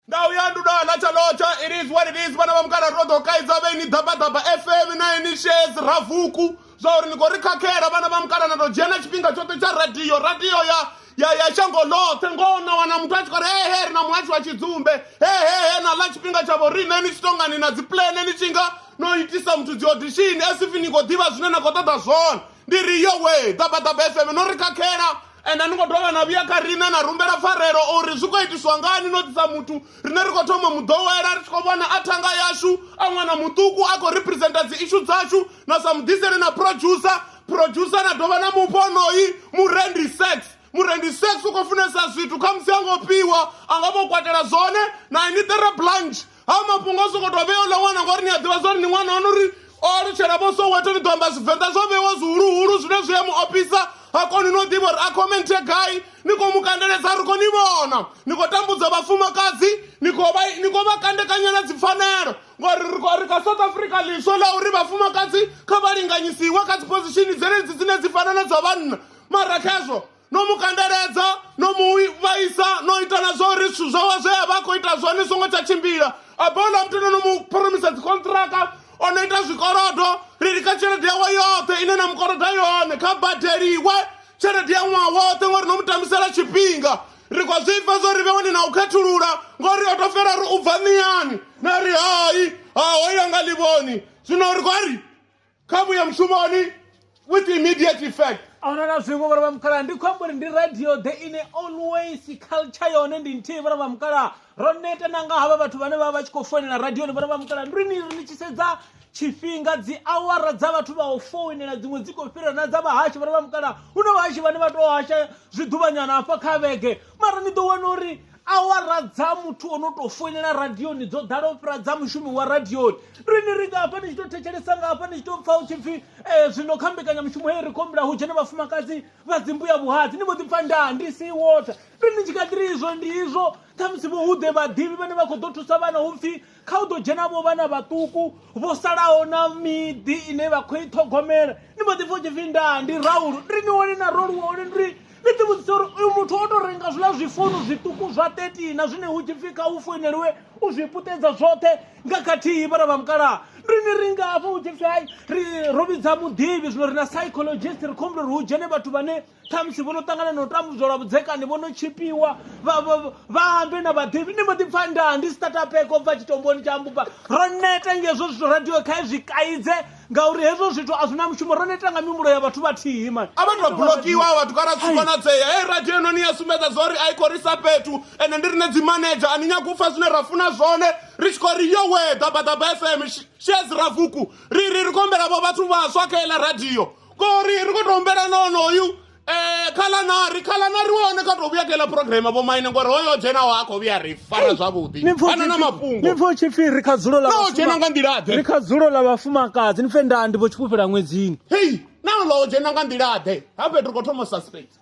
ndau ya ndudo ana chalocha it is what it is vana va mukara ro ḓo kaidza vhe ni ḓabaḓaba fm na ini shes ravuku zwa uri ni khou ri khakhela vhana vha mukala na tou dzhia na tshifhinga tshoṱhe tsha radio radio ya ya ya shango ḽoṱhe ngoho na wana muthu a tshi khou ri hehe ri na muhashi wa tshidzumbe hehehe na ḽa tshifhinga tshavho riṋe ni tshi tongani na dzipulene ni tshi nga no itisa muthu dzi audition as if ni khou ḓivha zwine na khou ṱoḓa zwone ndi ri yowe ḓabaḓaba fm no ri khakhela ende ni khou dovha na vhuya kha riṋe na rumbela pfarelo uri zwi khou itiswa ngani no ḓisa muthu rine ri khou thoma muḓowela ri tshi khou vhona a thanga yashu a ṅwana muṱuku a khou representa dzi ishu dzashu na sa muḓiseli na producer producer na dovha na mufha onoyi murendi sex murendi sex u khou funesa zwithu khamusi a ngo fhiwa a nga vho kwatela zwone na ini ṱere blanche ha mafhungo a sokoto vhea uḽa ṅwana ngori ni a ḓivha zwori ni ṅwana wanu uri o alutshela vho soweto ni ḓo amba zwivenḓa zwo vhewa zwihuluhulu zwine zwi a mu ofhisa ha koni no ḓivha uri a khomenthe gai ni khou mu kandeledza ri khou ni vhona ni khou tambudza vhafumakadzi ni khou vha kandekanyela dzipfanelo ngori ri kha south africa ḽiswa ḽa uri vhafumakadzi kha vha linganyisiwe kha dziphozishini dzenedzi dzine dzi fana na dza vhanna mara khezwo no mu kandeledza no mu vhaisa no ita na zwa uri zwithu zwawe zwe a vha a khou ita zwone songo tsha tshimbila a bola muthu no no mu phoromisa dzikontraka o no ita zwikolodo ri ri kha tshelede yawe yoṱhe ine na mukoloda yone kha badeliwe tshelede ya ṅwaha woṱhe ngori no mu tambisela tshifhinga ri khou zwi pfa zwo ri vhe wani na u khethulula ngori o to fela ri u bva niyani na ri hai ha hoya nga livhoni zwino ri khou ri khamu ya mushumoni with immediate effect a huna na zwiṅwe vhara vha mukalaha ndi khou amba uri ndi radio the ine always culture yone ndi nthihi vhara vha mukalaha ro neta na nga havha vhathu vhane vha vha tshi khou foinela radioni vhara vha mukalaha ndi ni ri ni tshi sedza tshifhinga dzi awara dza vhathu vha u foinela dziṅwe dzi khou fhira na dza vhahashi vhara vha mukalaha hu na vhahashi vhane vha tou hasha zwiḓuvhanyana hafha kha vhege mara ni ḓo wana uri awara dza muthu o no tou foinela radioni dzo ḓala u fhira dza mushumi wa radioni rini ri nga hafha ni tshi tou thetshelesa nga hafha ni tshi tou pfa hu tshi pfi um zwino kha mbekanyamushumo heyi ri khou humbula hu dzhene vhafumakadzi vha dzimbuya vhuhadzi ni mbo ḓi pfa ndaa ndi si wota ri ni tshi kha ḓiri izwo ndi izwo khamusi vho hu ḓe vhaḓivhi vhane vha khou ḓo thusa vhana hu pfi kha u ḓo dzhena vho vhana vhaṱuku vho salaho na miḓi ine vha khou i ṱhogomela ni mbo ḓi pfha u tshi pfhi ndaa ndi raulu ri ni wone na roluwa hone ndi ni ḓi vhudzisa uri uyu muthu o tou renga zwiḽa zwifounu zwiṱuku zwa 13 na zwine hu tshi pfhi kha u foineliwe u zwi putedza zwoṱhe nga khathihi vhana vha mukalaha ri ni ri ngafho hu tshi pfhi hai ri ro vhidza muḓivhi zwino ri na psychologist ri khou humbula uri hu dzhene vhathu vhane khamusi vho no ṱangana na u tambudzwa lwa vhudzekani vho no tshipiwa vhaambe na vhaḓivhi ni mbo ḓi pfa ndaa ndi sitatapeko bva tshitomboni tsha mbuba ro neta ngezwo zwithu radio khae zwi kaidze ngauri hezwo zwithu a zwi na mushumo ro neta nga mihumbulo ya vhathu vhathihi mani a vhathu vha bulokiwa vhathu kana zwi konadzea hei radio ino ni ya sumbedza zwa uri a i khou risa fhethu ende ndi rine dzi manager a ni nyagi u pfa zwine ra funa zwone ri tshi khou ri yo we ḓabaḓaba fm shes ravuku ri ri ri khou humbela vho vhathu vhaswa kha iḽa radio ngori ri khou tou humbela na onoyu um eh, khalanari khalanari wa hone kha tou vhuya kela programa vho maine ngori hoyo dzhenaho a khou vhuya ri fara zwavhuḓi ana na mafhungonipfa pfha u tshi pfi ri kha dzulo la dzhena nga nḓilaḓe ri kha dzulo ḽa vhafumakadzi ni pfe ndandi vho tshifhufhela ṅwedzini hei na ḽo dzhena nga nḓilaḓe ha fhethu ri khou thoma suspect